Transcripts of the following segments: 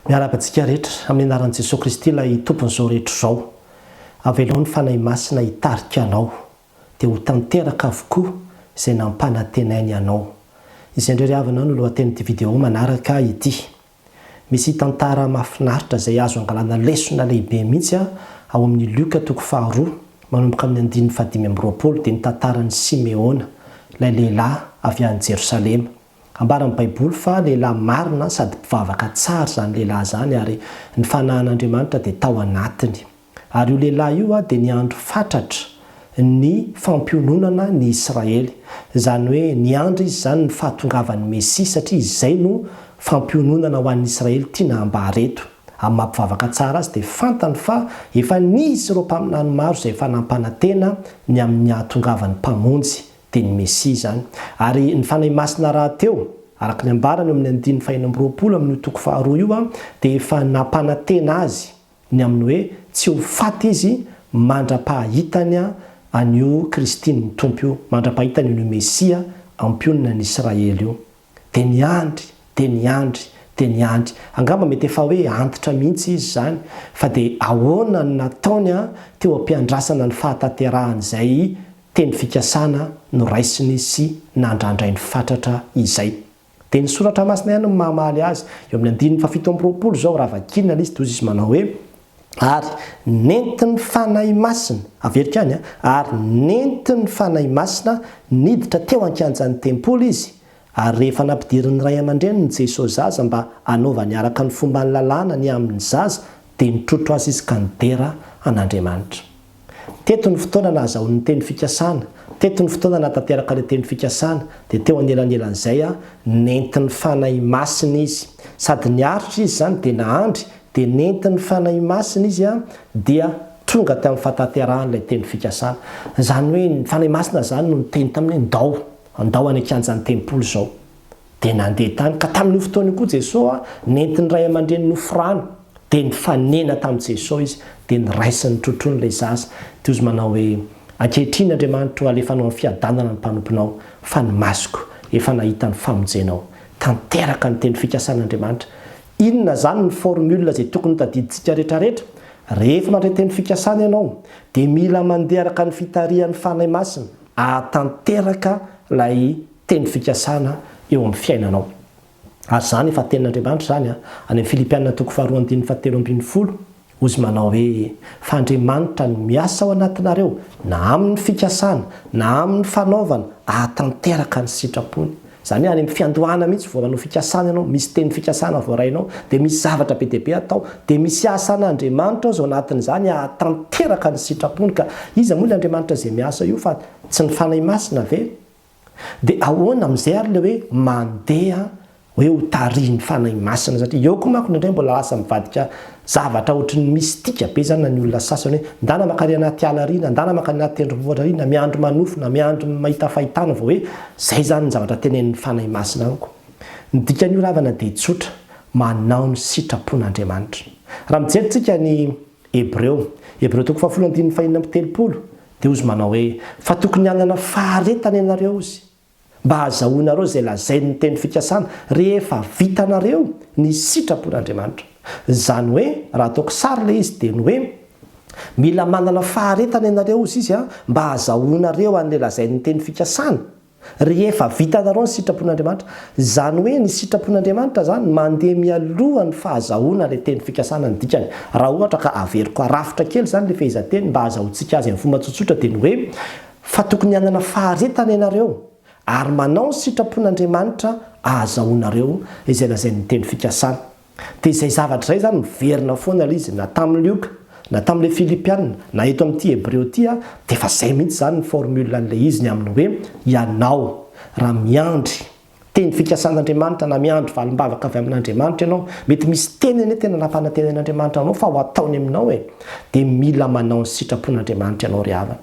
Miarahaba antsika rehetra amin'ny anaran'i Jesoa Kristy ilay Tompon'izao rehetra izao. Avelao ny Fanahy Masina hitarika anao dia ho tanteraka avokoa izay nampanantenainy anao. Izay indray ry havana no lohatenin'ity video manaraka ity. Misy tantara mahafinaritra izay azo angalana lesona lehibe mihitsy ao amin'ny Lioka toko faharoa manomboka amin'ny andininy fahadimy amby roapolo dia ny tantaran'i Simeona, ilay lehilahy avy any Jerosalema. Ambaran'ny Baiboly fa lehilahy marina sady mpivavaka tsara izany lehilahy izany, ary ny fanahin'Andriamanitra dia tao anatiny. Ary io lehilahy io dia niandry fatratra ny fampiononana ny Israely. Izany hoe niandry izy izany ny fahatongavan'ny Mesia, satria izay no fampiononana ho an'ny Israely tiana hambara eto. Amin'ny maha-mpivavaka tsara azy dia fantany fa efa nisy ireo mpaminany maro izay efa nampanantena ny amin'ny hahatongavan'ny Mpamonjy, dia ny Mesia izany. Ary ny Fanahy Masina rahateo, araka ny ambarany eo amin'ny andininy fahenina amby roapolo amin'io toko faharoa io, dia efa nampanantena azy ny amin'ny hoe tsy ho faty izy mandra-pahahitany an'io Kristin'ny Tompo io, mandra-pahitany an'io Mesia ampionona an'Israely io. Dia niandry, dia niandry, dia niandry. Angamba mety efa hoe antitra mihitsy izy izany, fa dia ahoana no nataony teo am-piandrasana ny fahatanterahan'izay teny fikasana noraisiny sy nandrandrainy fatratra izay? Dia ny Soratra Masina ihany no mamaly azy. Eo amin'ny andininy fahafito amby roapolo izao, raha vakiana ilay izy, dia hoy izy manao hoe. Ary nentin'ny Fanahy Masina, averiko ihany an, ary nentin'ny Fanahy Masina niditra teo an-kianjan'ny tempoly izy, ary rehefa nampidirin'ny ray aman-dreniny Jesosy zaza mba hanaovany araka ny fomban'ny lalàna ny amin'ny zaza, dia nitrotro azy izy ka nidera an'Andriamanitra. Teto ny fotoana nahazahoany ny teny fikasana, teto ny fotoana nahatanteraka ilay teny fikasana, dia teo anelanelan'izay nentin'ny Fanahy Masina izy. Sady niaritra izy izany dia nahandry, dia nentin'ny Fanahy Masina izy dia tonga tamin'ny fahatanterahan'ilay teny fikasana. Izany hoe ny Fanahy Masina izany no niteny taminy hoe, Ndao, ndao any an-kianjan'ny tempoly izao. Dia nandeha tany, ka tamin'io fotoana io koa Jesoa nentin'ny ray aman-dreniny hofrano, dia nifanena tamin'i Jesoa izy, dia niraisiny trotrony ilay zaza, dia ozy manao hoe, Ankehitriny Andriamanitro alefanao amin'ny fiadanana ny mpanomponao, fa ny masoko efa nahita ny famonjenao. Tanteraka ny teny fikasan'Andriamanitra. Inona izany ny formule izay tokony hotadidintsika rehetrarehetra? Rehefa mandray teny fikasana ianao, dia mila mandeha araka ny fitarihan'ny Fanahy Masina, ahatanteraka ilay teny fikasana eo amin'ny fiainanao. Ary izany efa tenin'Andriamanitra izany any amin'ny Filipiana toko faharoa andininy fahatelo ambin'ny folo, hoy Izy manao hoe, Fa Andriamanitra no miasa ao anatinareo na amin'ny fikasana na amin'ny fanaovana ahatanteraka ny sitrapony. Izany hoe any amin'ny fiandohana mihitsy vao manao fikasana ianao, misy teny fikasana voarainao, dia misy zavatra be dia be atao, dia misy asan'Andriamanitra aoz ao anatin'izany ahatanteraka ny sitrapony ka. Iza moa ilay Andriamanitra izay miasa io fa tsy ny Fanahy Masina ve? Dia ahoana amin'izay ary ilay hoe mandeha hoe ho tarihin'ny Fanahy Masina? Satria eo koa manko indraindray mbola lasa mivadika zavatra ohatry ny mistika be izany na ny olona sasany hoe ndana mankany anaty ala ary na ndana mankany anaty tendrombohitra ary na miandry manofy na miandry mahita fahitana vao hoe izay izany ny zavatra tenenin'ny Fanahy Masina amiko. Ny dikan'io ravana dia tsotra, manao ny sitrapon'Andriamanitra. Raha mijery tsika ny Hebreo, Hebreo toko fahafolo andininy fahenina amby telopolo, Dia hozy manao hoe, Fa tokony hanana faharetana ianareo, hozy, mba hahazahoanareo izay lazain' ny teny fikasana, rehefa vitanareo ny sitrapon' Andriamanitra. Izany hoe, raha ataoko sary ilay izy, dia ny hoe, Mila manana faharetana ianareo, hozy izy an, mba hahazahoanareo an' ilay lazain' ny teny fikasana. Rehefa vitanareo ny sitrapon'Andriamanitra, izany hoe ny sitrapon'Andriamanitra izany mandeha mialoha ny fahazahoana ilay teny fikasana ny dikany. Raha ohatra ka averiko arafitra kely izany ilay fehezanteny mba hazahoantsika azy amin'ny fomba tsotsotra dia ny hoe, fa tokony hanana faharetana ianareo ary manao ny sitrapon'Andriamanitra ahazahoanareo izay lazain'ny teny fikasana. Dia izay zavatra izay izany miverina foana ilay izy, na tamin'i Lioka, na tamin'ilay Filipiana, na eto amin'ity Hebreo ity, dia efa izay mihitsy izany ny formule an'ilay izy ny amin'ny hoe ianao raha miandry teny fikasan'Andriamanitra na miandry valim-bavaka avy amin'Andriamanitra ianao, mety misy teny anie tena nampanantenain'Andriamanitra anao fa ho ataony aminao e, dia mila manao ny sitrapon'Andriamanitra ianao ry havana.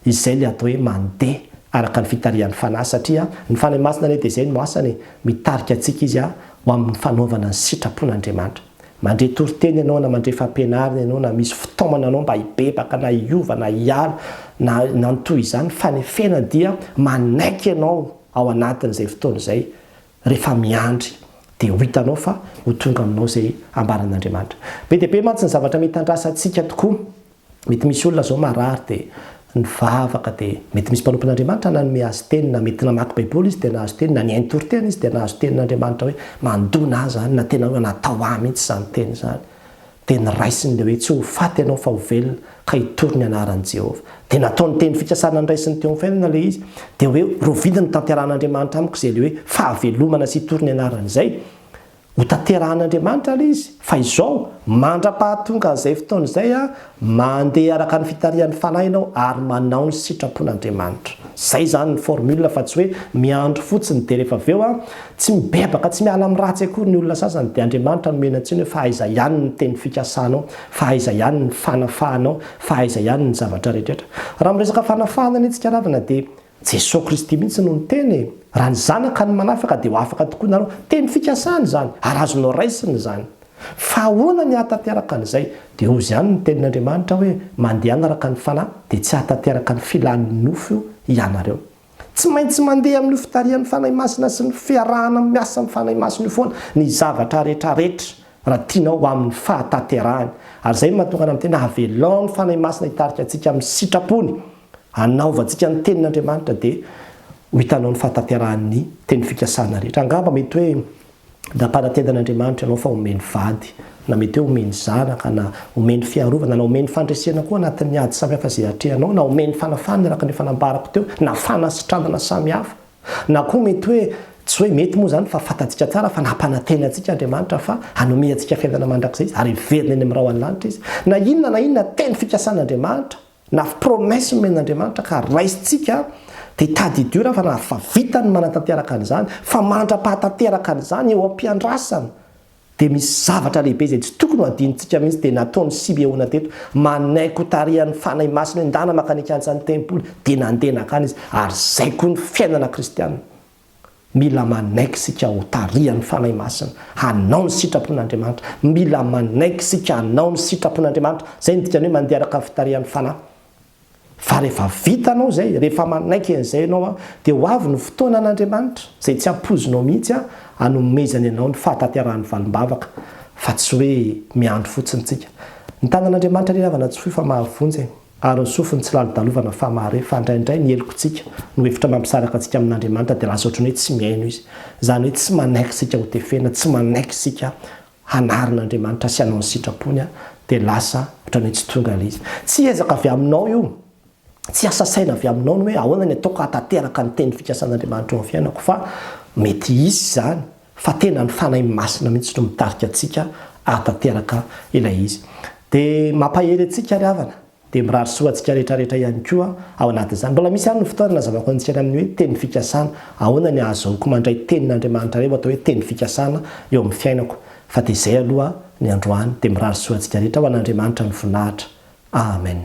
Izay le atao hoe mandeha araka ny fitarihan'ny Fanahy satria ny Fanahy Masina anie dia izay no asany e, mitarika antsika Izy ho amin'ny fanaovana ny sitrapon'Andriamanitra. Mandre toriteny ianao na mandre fampianarana ianao na misy fitaomana anao mba hibebaka na hiova na hiala na na ny toy izany, ny fanefena dia manaiky ianao ao anatin'izay fotoana izay rehefa miandry dia ho hitanao fa ho tonga aminao izay ambaran'Andriamanitra. Be dia be mantsy ny zavatra mitandrasa antsika tokoa. Mety misy olona izao marary dia nivavaka dia mety misy mpanompon'Andriamanitra nanome azy teny na mety namaky baiboly izy dia nahazo teny na nihaino toriteny izy dia nahazo tenin'Andriamanitra hoe mandona ahy izany na tena hoe natao ahy mihitsy izany teny izany dia niraisiny ilay hoe tsy ho faty ianao fa ho velona ka hitory ny anaran'i Jehovah dia nataony teny fikasana niraisiny teo amin'ny fiainana ilay izy dia hoe rovidiny notanterahan'Andriamanitra amiko izay ilay hoe fahavelomana sy hitory ny anarany izay Hotanterahan'Andriamanitra ary izy, fa izao, mandra-pahatongan'izay fotoana izay, mandeha araka ny fitarihan'ny Fanahy ianao ary manao ny sitrapon'Andriamanitra. Izay izany ny formule fa tsy hoe miandry fotsiny dia rehefa avy eo an, tsy mibebaka, tsy miala amin'ny ratsy akory ny olona sasany dia Andriamanitra nomena ny tsiny hoe fa aiza ihany ny teny fikasanao, fa aiza ihany ny fanafahanao, fa aiza ihany ny zavatra rehetra rehetra. Raha miresaka fanafahana anie tsika ravina dia Jesoa Kristy mihitsy no niteny e! Raha ny zanaka no manafaka dia ho afaka tokoa ianareo. Teny fikasana izany ary azonao raisina izany. Fa ahoana ny hahatanteraka an'izay? Dia hozy ihany ny tenin'Andriamanitra hoe, mandehana araka ny fanahy dia tsy hahatanteraka ny filan'ny nofo io ianareo. Tsy maintsy mandeha amin'io fitarihan'ny Fanahy Masina sy ny fiarahana miasa amin'ny Fanahy Masina io foana ny zavatra rehetra rehetra raha tianao ho amin'ny fahataterahany, ary izay no mahatonga anao miteny, avelao ny Fanahy Masina hitarika antsika amin'ny sitrapony, hanaovantsika ny Tenin'Andriamanitra, dia ho hitanao ny fahatanterahan'ny teny fikasana rehetra. Angamba mety hoe nampanantenan'Andriamanitra anao fa homeny vady, na mety hoe homeny zanaka, na homeny fiarovana, na homeny fandresena koa anatin'ny ady samihafa izay atrehanao, na homeny fanafahana araka ny efa nambarako teo, na fanasitranana samihafa. Na koa mety hoe, tsy hoe mety moa izany fa fantatsika tsara fa nampanantena antsika Andriamanitra fa hanome antsika fiainana mandrakizay Izy ary hiverina eny amin'ny rahon'ny lanitra Izy. Na inona na inona teny fikasan'Andriamanitra na promesse nomen'Andriamanitra ka raisintsika dia tadidio raha fa na fa vitany ny manatanteraka an'izany fa mandra-pahatanteraka an'izany eo am-piandrasana Dia misy zavatra lehibe izay tsy tokony ho adinontsika mihitsy, dia nataon'i Simeona teto, manaiky ho tarihan'ny Fanahy Masina io, ndana maka ny kianjan'ny tempoly, dia nandeha nankany izy, ary izay koa ny fiainana kristiana, mila manaiky isika ho tarihan'ny Fanahy Masina, hanao ny sitrapon'Andriamanitra, mila manaiky isika hanao ny sitrapon'Andriamanitra, izay no dikan'ny hoe mandeha araka ny fitarihan'ny Fanahy. Fa rehefa vitanao izay, rehefa manaiky an'izay ianao, dia ho avy ny fotoanan'Andriamanitra, izay tsy ampoizinao mihitsy, hanomezany anao ny fahatanterahan'ny valim-bavaka, fa tsy hoe miandry fotsiny isika. Ny tanan'Andriamanitra anie havana tsy foy fa mahavonjy e! Ary ny sofiny tsy lalodalovana fa mahare, fa indraindray ny helokontsika no hevitra mampisaraka antsika amin'Andriamanitra dia lasa ohatran'ny hoe tsy mihaino Izy. Izany hoe tsy manaiky isika hotefena, tsy manaiky isika hanarin'Andriamanitra sy hanao ny sitrapony aho dia lasa ohatran'ny hoe tsy tonga ilay izy. Tsy ezaka avy aminao io, tsy asa saina avy aminao ny hoe ahoana ny ataoko hahatanteraka ny teny fikasan'Andriamanitra eo amin'ny fiainako fa mety hisy izany fa tena ny Fanahy Masina mihitsy no mitarika antsika hahatanteraka ilay izy. Dia mampahery antsika ry havana Dia mirary soa antsika rehetra rehetra ihany koa ao anatin'izany. Mbola misy ihany ny fotoana nazavako antsika ny amin'ny hoe teny fikasana. Ahoana ny ahazoako mandray tenin'Andriamanitra iray ho atao hoe teny fikasana eo amin'ny fiainako. Fa dia izay aloha ny androany. Dia mirary soa antsika rehetra ho an'Andriamanitra ny voninahitra. Amen.